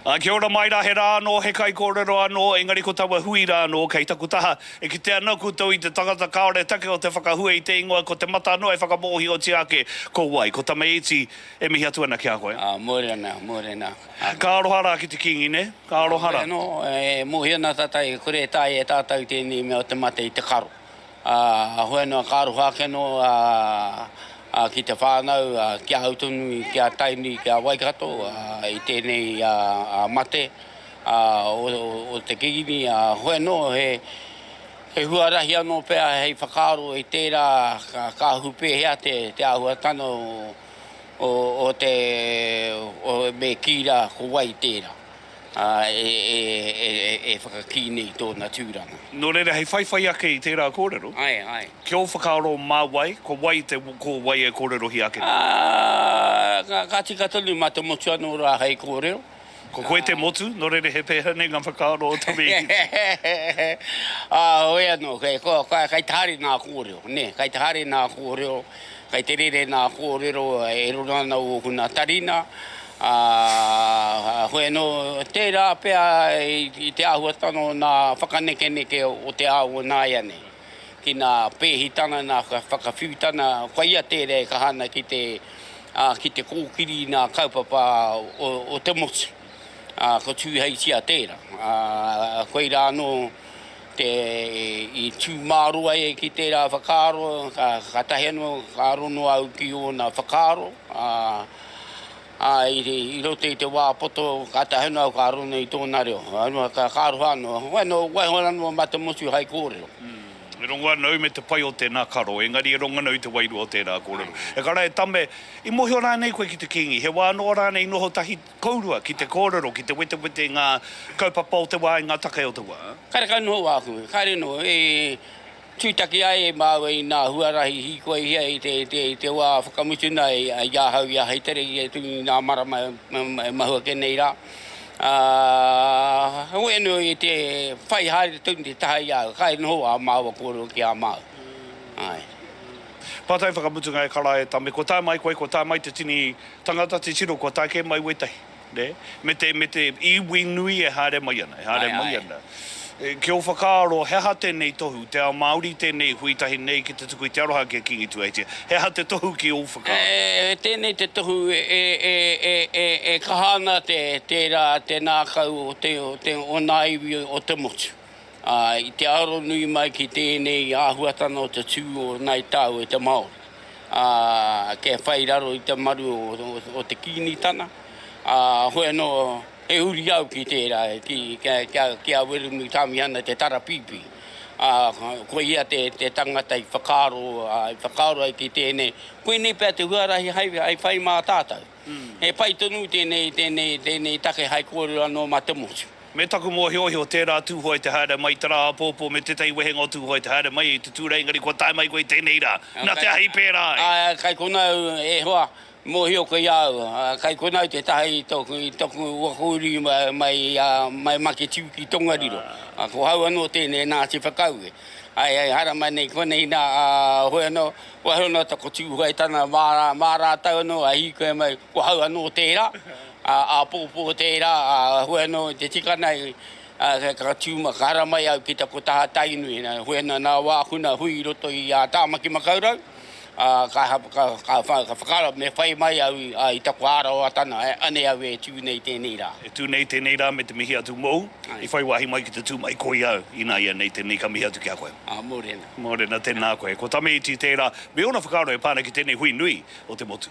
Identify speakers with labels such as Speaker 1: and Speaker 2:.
Speaker 1: Ā, kia ora mai rā, he rā anō, he kaikōrero anō, engari ko taua hui rā anō kei taku taha. E kite ana koutou i te tangata kāore take o te whakahua i te ingoa, ko te mata anō e whakamōhiotia ake ko wai. Ko Tamaiti e mihi atu ana ki a koe. Ā, mōreana, mōreana, ā.
Speaker 2: Ka aroha
Speaker 1: rā ki te kīngi, nē? Ka aroha rā. Nō reira anō, e mōhio
Speaker 2: ana tātou e kore e taea e tātou tēnei mea o te mate i te karo. Ā, hoi noa ka aroha ake anō ki te whānau, ki a au tonu, ki a Tainui, ki a Waikato i tēnei mate o te Kīngi. Ā, hoi anō he huarahi anō pea hei whakaaro i tērā kāhu pēhea te āhuatanga o te, me kī rā ko wai tērā. ā, e whakakī nei i tōna tūranga. Nō reira, hei whaiwhai
Speaker 1: ake i tērā kōrero. Āe, āe. Ki ō
Speaker 2: whakaaro
Speaker 1: mā wai, ko wai te, ko wai e kōrerohia ake nei?
Speaker 2: Ā, ka tika tonu mā te motu anō rā hei kōrero. Ko koe te
Speaker 1: motu, nō reira he pēhea nei ngā whakaaro o Tamihi? Ā,
Speaker 2: hoi anō, kei, kei te haere nā kōrero, nē, kei te haere nā kōrero, kei te rere nā kōrero, e roro ana ōku nā tari nā, Ā, heoi anō, tērā pea i te āhuatanga o ngā whakanekeneke o te ao o nāianei, ki ngā pēhitanga, ngā whakawhiutanga, koia tērā e kaha ana ki te, ā, ki te kōkiri i ngā kaupapa o te motu. Ā, ko Tūheitia tērā. Ā, koirā anō te, i tū mārō ai e ki tērā whakaaro, kātahi anō ka aro noa au ki ōna whakaaro, ā, Ā, i roto i te wā poto, ka tahi noa au ka aro nei i tōna reo. Aurua, ka aroha noa au. Wainō, waiho rā noa mā te motu hai kōrero. Ū, e rongo
Speaker 1: ana au me te pai o tēnā karo, engari e rongo ana au i te wairua o tērā kōrero. E kara, e Tame, i mōhio rānei koe ki te Kīngi? He wā noa rānei i noho tahi kourua ki te kōrero, ki te wetewete i ngā kaupapa o te wā, i ngā take o te wā? Karekau noa hoki,
Speaker 2: kāre noa, e Tūtaki ai e māua i nā huarahi hīkoihia i te, i te, i te wā whakamutuna i, i ahau ia hei tere ki a Tūngi i nā marama e mahua ake nei rā. Ā, he uinu i te whai haere tonu te taha i a au, kai noho ā māua kōrero ki a māu. Āe.
Speaker 1: Pātai whakamutunga e Karaehe Tame, Kua tae mai koe, kua tae mai te tini tangata, te tino kua tae kē mai wētahi? nē, me te, me te iwi nui e haere mai ana, e haere Ae, mai ae. ana. E, ki ō whakaaro, he aha tēnei tohu, te ao Māori tēnei hui tahi nei ki te tuku i te aroha ki a Kīngi Tuheitia, he aha te tohu ki ō whakaaro? E, tēnei te tohu
Speaker 2: e, e, e, e, e, e kaha ana te, tērā, te nākau o te, o te, o ngā iwi o te motu. ā, i te aro nui mai ki tēnei āhuatanga o te tū o Ngāi Tāu e te Māori, ā, kia whai raro i te maru o te Kīngitanga, ā, hoi anō, he uri au ki tērā, ki a Wiremu Tāmihana Te Tarapīpī, ā, ko ia te tangata i whakaaro ai ki tēnei, koinei pea te huarahi hai whai mā tātou. He pai tonu tēnei, tēnei, tēnei take hai kōrero anō mā te motu. Me taku mōhiohio,
Speaker 1: tērā tūhoe te haere mai i te rā apōpō me tētahi wehenga o tūhoe te haere mai i te tūrei engari kua tae mai koe i tēnei rā, nā te ahi pērā ai. Āe, kai konā au
Speaker 2: e hoa, mōhio koe i a au, kai konā au te taha i toku, i toku waka uri mai, mai Maketiu ki Tongariro. Ko hau anō tēnei nā te whakaue. Āe, āe, haere mai nei konei nā, a hoe anō. Kua huri noa taku tūhuga i tana māra, mā rātou anō a hīkoi mai, ko hau anō tērā, ā, āpōpō tērā, ā, hue anō i te tika nei, ā, ka tū mai, ka haramai au ki taku taha Tainui, nā, hue ana nā wāku nā hui i roto i a Tāmaki Makaurau, ā, ka, ka, ka, ka whakaaro me whai mai au i, ā, i taku ārawa tana, anei au e tū nei tēnei rā. E tū nei tēnei rā
Speaker 1: me te mihi atu mōu, i whai wāhi mai ki te tū mai koi au, ināianei tēnei ka mihi atu ki a koe. Ā, mōreana. Mōrena, Tēnā koe. Ko Tamaiti tērā, me ōna whakaaro e pā ana ki tēnei hui nui o te motu.